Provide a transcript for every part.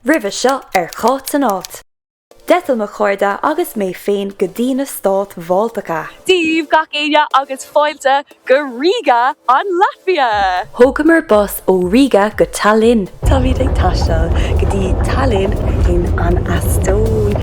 Roimhe seo ar Cáit an Áit, d'eitil mo chairde agus mé féin go dtí na Stáit Bhaltacha. Dia daoibh, gach éinne, agus fáilte go Riga, an Laitvia! Thógamar bus ó Riga go Tallinn. Táimid ag taisteal go dtí Tallinn san Eastóin.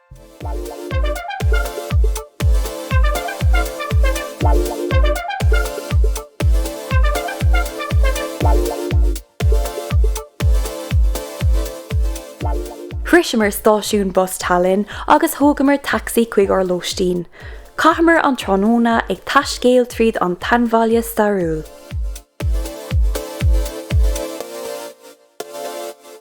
Shroiseamar stáisiún bus Tallinn agus thógamar taxi chuig ár lóistín. Chaitheamar an tráthnóna ag taiscéaladh tríd an tseanbhaile stairiúil.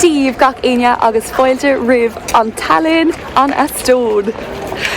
Dia daoibh gach éinne agus fáilte roimh Tallinn, An Eastóin.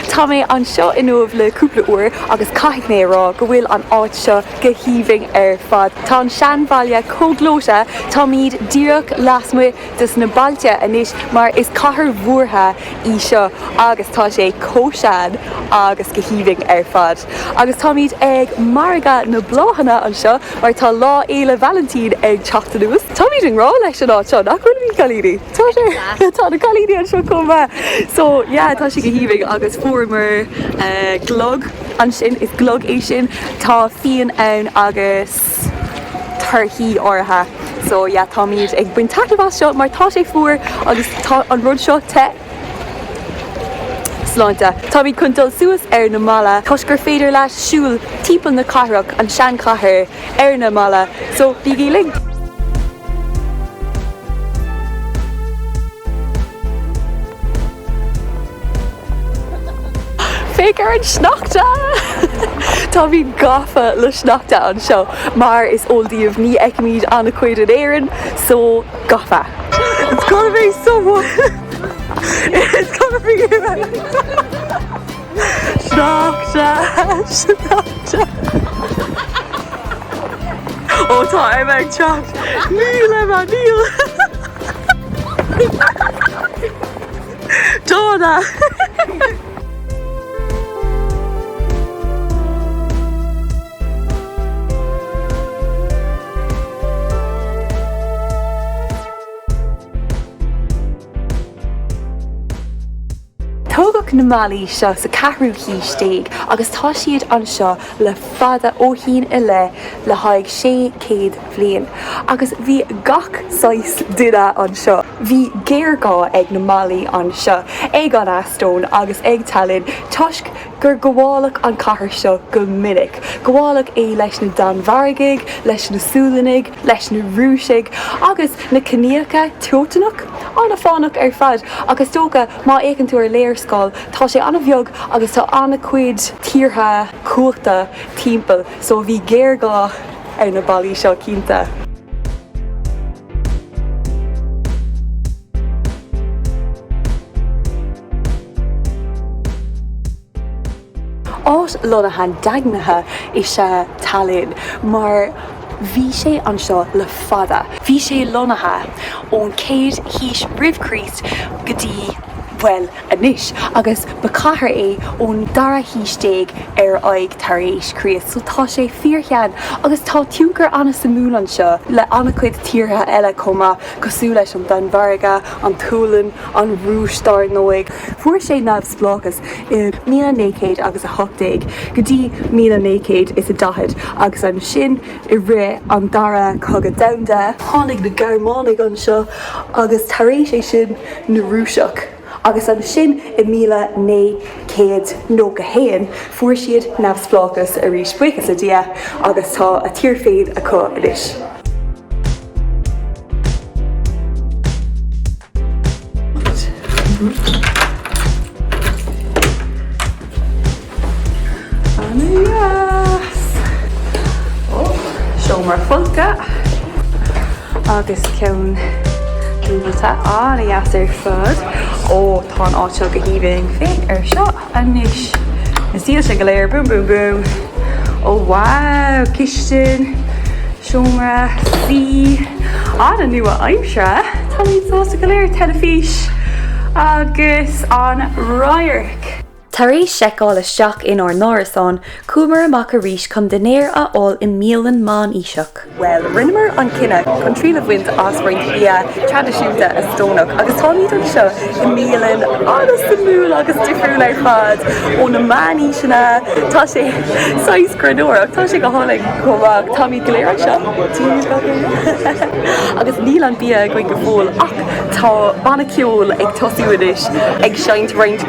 Tá mé anseo inniu le cúpla uair agus caithfidh mé a rá go bhfuil an áit seo go haoibhinn ar fad. Tá an seanbhaile chomh gleoite, táimid díreach lasmuigh dos na ballaí anois mar is cathair mhúrtha í seo agus tá sé chomh sean agus go haoibhinn ar fad. Agus táimid ag margadh na bláthanna anseo mar tá Lá Fhéile Vailintín ag teacht anuas. Táimid i ngrá leis an áit seo nach bhfuilimid a chailíní. Tá sé. Tá na cailíní anseo chomh maith. So yeah tá sé go haoibhinn agus fuaireamar glog ansin. Is glog é sin. Tá fíon ann agus. torthaí áirithe. So yeah táimid ag baint taitneamh as seo mar tá sé fuar agus tá an rud seo te. Sláinte, táimid chun dul suas ar na mballaí toisc gur féidir leat siúl timpeall na cathrach, an seanchathair, ar na mballaí, so bígí linn! Féach ar an sneachta! Tá mé gafa le sneachta anseo mar is eol daoibh ní fheicimid an-chuid in Éirinn so gafa! It's gonna be so It's gonna be Sneachta! Sneachta! Ó tá ar bheith teach ní le níl! Donna! Tógadh na mballaí seo sa 4ú haois déag agus tá siad anseo le fada ó shin i leith le haghaidh 600 bhliain agus bhí gach saghas duine anseo. Bhí géarghá ag na mballaí anseo, ag an Eastóin agus ag Tallinn toisc gur gabháladh an chathair seo go minic. Gabháladh é leis na Danmhargaigh, leis na Sualannaigh, leis na Rúisigh agus na ciníocha Teotanacha. An-fhairsing ar fad ach is dócha má fhéachann tú ar léarscáil tá sé an-bheag agus tá an-chuid tíortha cumhachta timpeall so bhí géarghá. ar na ballaí seo cinnte. Áit lonnaithe daingnithe is ea Tallinn mar bhí sé anseo le fada. Bhí sé lonnaithe ón 1ú haois roimh Chríost go dtí, bhuel, anois agus ba chathair é ón dara haois déag ar aghaidh tar éis Chríost, so tá sé fíorshean agus tá tionchar an-suimiúil anseo le an-chuid tíortha eile chomh maith, cosúil leis an Danmhairg, an tSualainn, an Rúis dár ndóigh. Fuair sé neamhspleáchas i míle naoi chéad agus a hocht déag go dtí míle naoi chéad is a daichead agus ansin, i rith an Dara Cogadh Domhanda. Tháinig na Gearmánaigh anseo agus tar éis é sin na Rúisigh agus ansin i míle naoi céad nócha haon fuair siad neamhspleáchas arís, buíochas le Dia, agus tá a tír féin acu anois. Ana dheas! Ó, seomra folctha agus ceann dúbailte ana dheas ar fad. Ó, tá an áit seo go haoibhinn. Féach air seo anois. An saol go léir. Boom boom boom. Ó wow! Cistin, seomra suí, ana nua-aimseartha. Táimid sásta go léir. Teilifís agus an radharc. Tar éis seiceáil isteach inár n-árasán, chuamar amach arís chun dinnéar a fháil i mbialann meánaoiseach. Bhuel, rinneamar an cinneadh chun triail a bhaint as roinnt bia traidisiúnta Eastónach agus táimid anseo i mbialann an-suimiúil agus difriúil ar fad ó na meánaoiseanna. Tá sé saghas gránna ach tá sé go hálainn chomh maith. Táimid go léir anseo agus níl an bia againn go fóill ach tá banna ceoil ag tosú anois ag seinnt roinnt.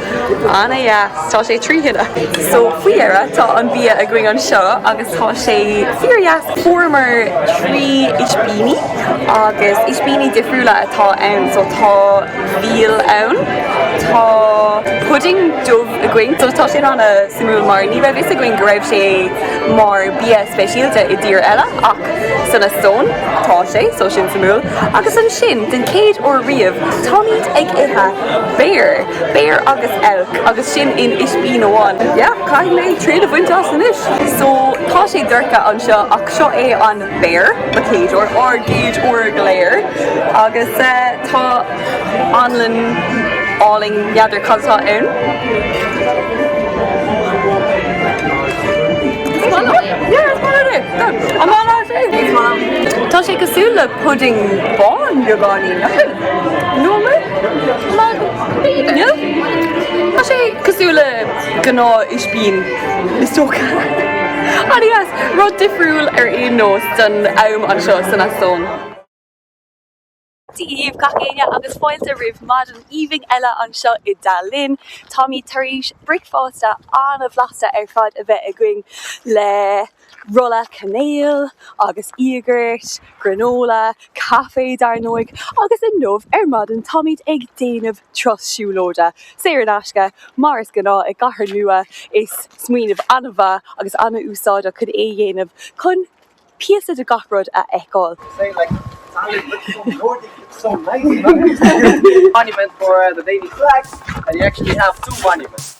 Ana dheas, tá sé trí thine! So faoi dheireadh tá an bia againn anseo agus tá sé fíor dheas. Fuaireamar trí ispíní agus ispíní difriúla atá ann so tá veal ann, tá pudding dubh againn so tá sin ana suimiúil mar ní raibh fhios againn go raibh sé mar bia speisialta i dtír eile ach san Eastóin tá sé so sin suimiúil agus ansin den chéad uair riamh táimid ag ithe Béir. Béir agus eilc agus sin in ispín amháin. Yeah, caithfidh mé triail a bhaint as anois. So, tá sé dorcha anseo ach seo é an béar, mo chéad uair, ár gcéad uair go léir agus eh, tá anlann álainn n'fheadar cad atá ann. Yeah, is maith liom é. Tá. An maith leat é. Tá sé cosúil le pudding bán beagáinín. Nóiméad? Mag? Míle? Tá sé cosúil le gnáth ispín, is dócha. Ana-dheas. Rud difriúil ar aon nós don am anseo san Eastóin. Dia dhaoibh gach éinne agus fáilte roimh mhaidin aoibhinn eile anseo i dTallinn. Táimid tar éis bricfeasta an-bhlasta ar fad a bheith againn le Rolla cainéal agus íogairt, granola, caife dar ndóigh, agus inniu ar maidin táimid ag déanamh turas siúlóide, saor in aisce, mar is gnáth i gcathair nua, is smaoineamh an-mhaith agus an-úsáideach chun é a dhéanamh, chun píosa de gach rud a fheiceáil. Is é like Italian with some Nordic some nice monument for uh, the baby flags and you actually have two monuments.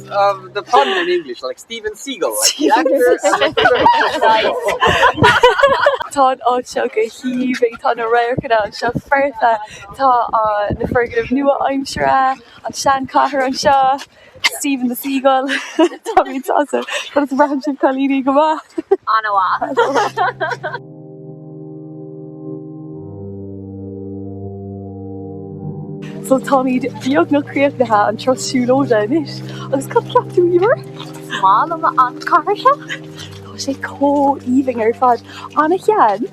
of the pun in English, like Steven Seagal, like the actor and the film. Nice. Tá an áit seo go haoibhinn, tá na radharcanna anseo foirfe, tá an na foirgnimh nua-aimseartha, an seanchathair anseo, Steven the Seagull, táimid sásta, conas a bhraitheann sibh cailíní go maith? Ana mhaith. So táimid beagnach críochnaithe an turas siúlóide anois agus cad ceap tú Emer? Is maith liom an chathair seo. Tá sé chomh aoibhinn ar fad. Ana shean,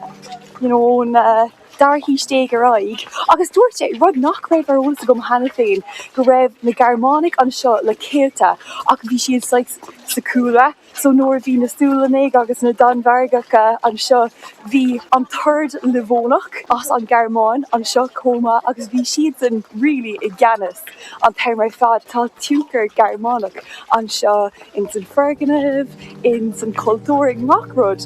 you know ón tríú haois déag ar aghaidh. Agus dúirt sé, rud nach raibh ar eolas agam cheana féin, go raibh na Gearmánaigh anseo le céadta ach bhí siad saghas sa cúlra, So nuair a bhí na Sualannaigh agus na Danmhargacha anseo, bhí an tOrd Livónach as an Ghearmáin anseo chomh maith agus bhí siadsan really i gceannas an t-am ar fad. Tá tionchar Gearmánach anseo ins an foirgnimh, ins an chultúr, i ngach rud.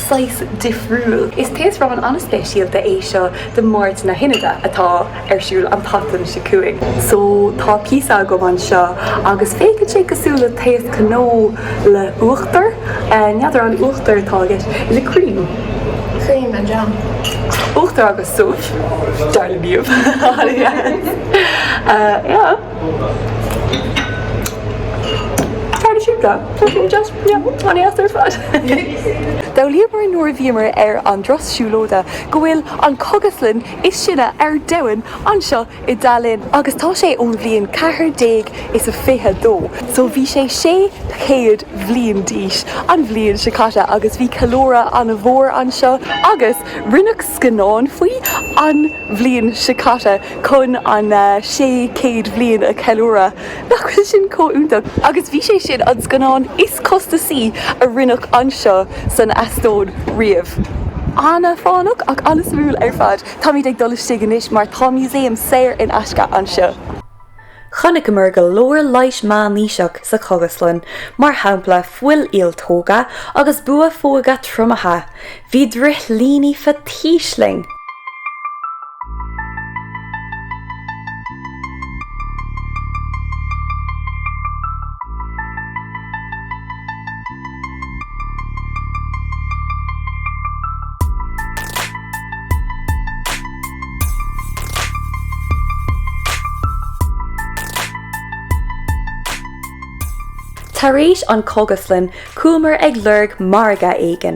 saghas difriúil. Is taosrán an-speisialta é seo de Máirt na hInide atá ar siúl an tseachtain seo chugainn. So, tá píosa agam anseo agus féachann sé cosúil le taos cnó le huachtar. N'fheadar an uachtar atá agat, is it cream? Cream and jam. Uachtar agus subh, dar le bíomh. Yeah. Tharla siad go. Tuigim deas. Yeah, an éacht ar fad. D'fhoghlaíomar nuair a bhíomar ar an dturas siúlóide go bhfuil an cogaslann is sine ar domhan anseo i dTallinn agus tá sé ón bhliain 1422, so bhí sé 600 bhliain d'aois an bhliain seo caite agus bhí ceiliúradh an-mhór anseo agus Rinneadh scannán faoi an bhliain seo caite chun an 600 bliain a cheiliúradh. Nach bhfuil sin chomh iontach? Agus bhí sé sin an scannán is costasaí a rinneadh anseo san Eastóin riamh. An-fhánach ach an-suimiúil ar fad. Táimid ag dul istigh anois mar tá museum saor in aisce anseo. Chonaiceamar go leor leighis meánaoiseach sa Chogaslann, mar shampla fuil ialtóga agus buafóga triomaithe. Bhí drithlíní faitís linn! Tar éis an cogaslann chuamar ag lorg margadh éigin.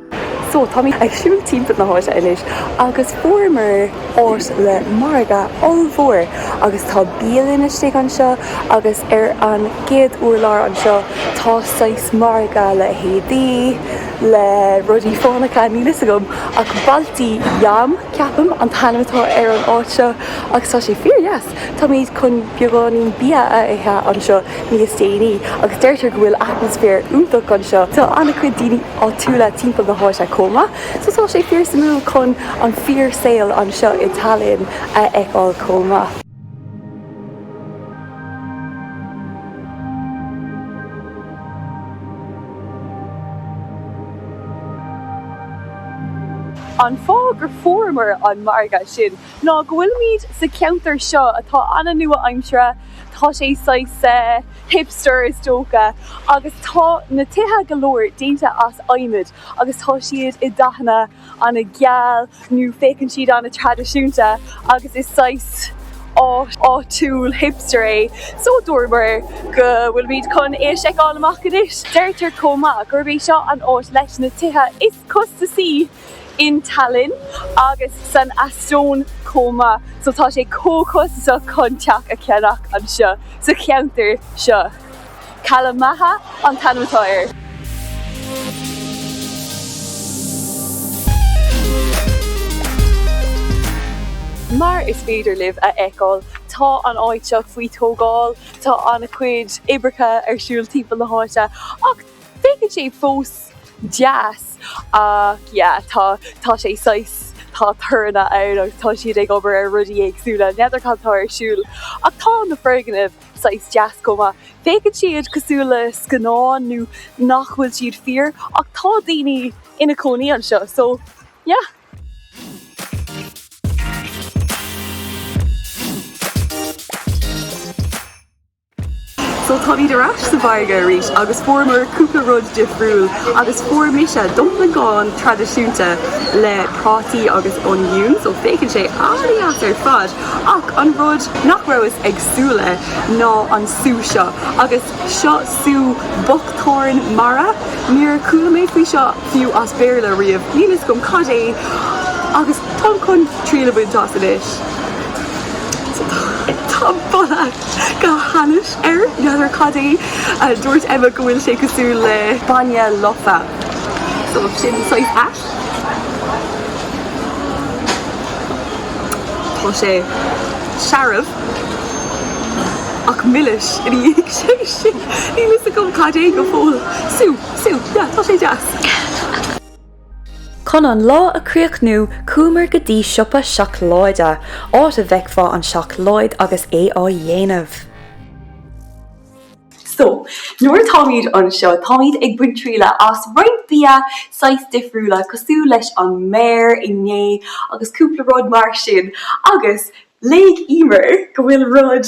So táimid ag siúl timpeall na háite anois agus fuaireamar áit le margadh ollmhór agus tá bialann istigh anseo agus ar an gcéad urlár anseo tá saghas margadh le héadaí, le rudaí fánacha, níl fhios agam ach Balti Jaam ceapaim an t-ainm atá ar an áit seo agus tá sé fíor dheas. Táimid chun beagáinín bia a ithe anseo níos déanaí agus deirtear go bhfuil atmaisféar iontach anseo. Tá an-chuid daoine áitiúla timpeall na háite chomh maith, so tá sé fíor suimiúil chun an fíor saol anseo i Tallinn a fheiceáil chomh maith. An fáth gur fuaireamar an margadh sin ná go bhfuilimid sa cheantar seo atá an-nua-aimseartha, tá sé saghas eh. hipster is dócha, agus tá na tithe go leor déanta as adhmad agus tá siad i dathanna an-gheal nó féachann siad an-traidisiúnta agus is saghas áit áitiúil hipster é so dúramar go bhfuilimid chun é a sheiceáil amach anois. Deirtear chomh maith gurb é seo an áit leis na tithe is. costasaí in Tallinn agus san Eastóin chomh maith, so tá sé chomh costasach chun teach a cheannach anseo sa cheantar seo. Kalamaja an t-ainm atá air. Mar is féidir libh a fheiceáil, tá an áit seo faoi tógáil, tá an-chuid oibreacha ar siúl timpeall na háite ach, Féachann siad fós deas ach yeah tá tá sé saghas tá toranna ann agus tá siad ag obair ar rudaí éagsúla, n'fheadar cad tá ar siúl ach tá na foirgnimh saghas deas chomh maith. Féachann siad cosúil le scannán nó nach bhfuil siad fíor ach tá daoine ina cónaí anseo so yeah. So táimid ar ais sa mhargadh arís agus fuaireamar cúpla rud difriúil agus fuair mise dumplingeáin traidisiúnta le prátaí agus oniúin, so féachann sé an-dheas ar fad, ach an rud nach rabhas ag súil le ná an sú seo agus seo sú buckthorn mara, níor chuala mé faoi seo fiú as Béarla riamh, níl a fhios agam cad é agus táim chun triail a bhaint as anois. Tá boladh! Go hainnis air, n'fheadar cad é. Dúirt Emma go bhfuil sé cosúil le bainne lofa. So sin saghas ait. Tá sé searbh ach milis ina dhiaidh sin. Níl a fhios agam cad é go fóill. Sú, sú, yeah, tá sé deas. Chun an lá a chríochnú, chuamar go dtí siopa seacláide, áit a bhfeicfeá an seacláid agus é á dhéanamh. So, nuair atáimid anseo, táimid ag baint trialach as roinnt bia, saghas difriúla, cosúil leis an mbear inné agus cúpla rud mar sin. Agus, léigh Emer go bhfuil rud.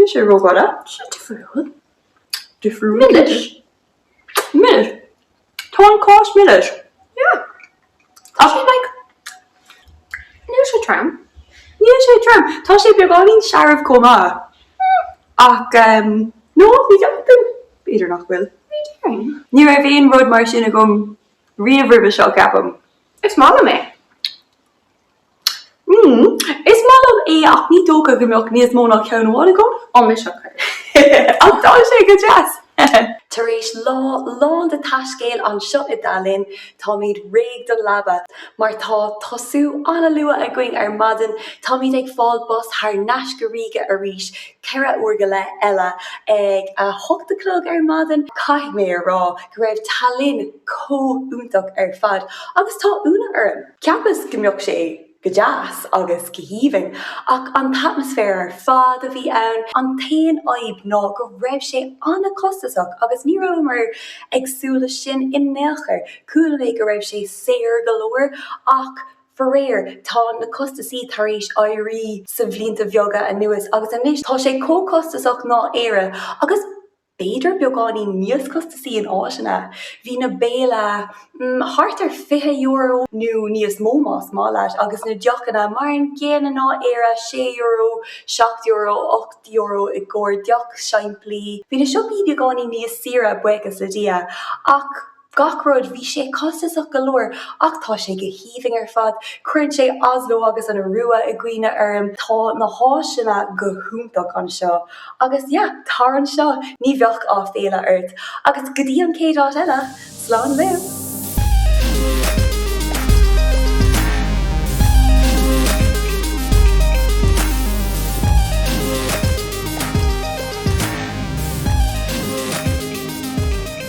Níl sé rófhada. Sé difriúil. Difriúil. Milis. Milis. Tá an cás milis. Yeah. Tá sé like Níl sé trom. Níl sé trom. Tá sé beagáinín searbh chomh maith. Hmm. Ach um, nó bhí deachtain idir nach bhfuil. Ní raibh aon rud mar sin agam riamh roimhe seo ceapaim. Is maith liom é. mm is maith liom é ach ní dócha go mbeadh níos mó ná ceann amháin agam an mhí seo chuir ach tá sé go deas! Tar éis lá lán de taiscéal anseo i dTallinn, táimid réidh don leaba. Mar tá tosú an-luath againn ar maidin, táimid ag fáil bus thar n-ais go Riga arís, ceithre uair go leith eile, ag a hocht a chlog ar maidin. Caithfidh mé a rá go raibh Tallinn chomh iontach ar fad, agus tá ionadh orm! Cheapas go mbeadh sé go deas agus go haoibhinn, ach an t-atmaisféar ar fad a bhí ann. An t-aon fhadhb ná go raibh sé an-chostasach agus ní rabhamar ag súil leis sin in aon chor. Chuala mé go raibh sé saor go leor ach faraor tá na costasaí tar éis éirí sna blianta bheaga anuas agus anois tá sé chomh costasach ná Éire agus b'fhéidir beagáinín níos costasaí in áiteanna, bhí na béilí, mm, thart ar €20 nó níos mó más maith leat agus na deochanna, mar an gcéanna ná Éire, €6, €7, €8 i gcomhair deoch simplí. Bhí na siopaí beagáinín níos saoire, buíochas le Dia, ach. Gach rud, bhí sé costasach go leor, ach tá sé go haoibhinn ar fad. Cuireann sé Oslo agus an Iorua i gcuimhne orm. Tá na háiseanna go hiontach anseo. Agus yeah, tar anseo, ní bheidh aiféala ort. Agus go dtí an chéad áit eile, slán libh!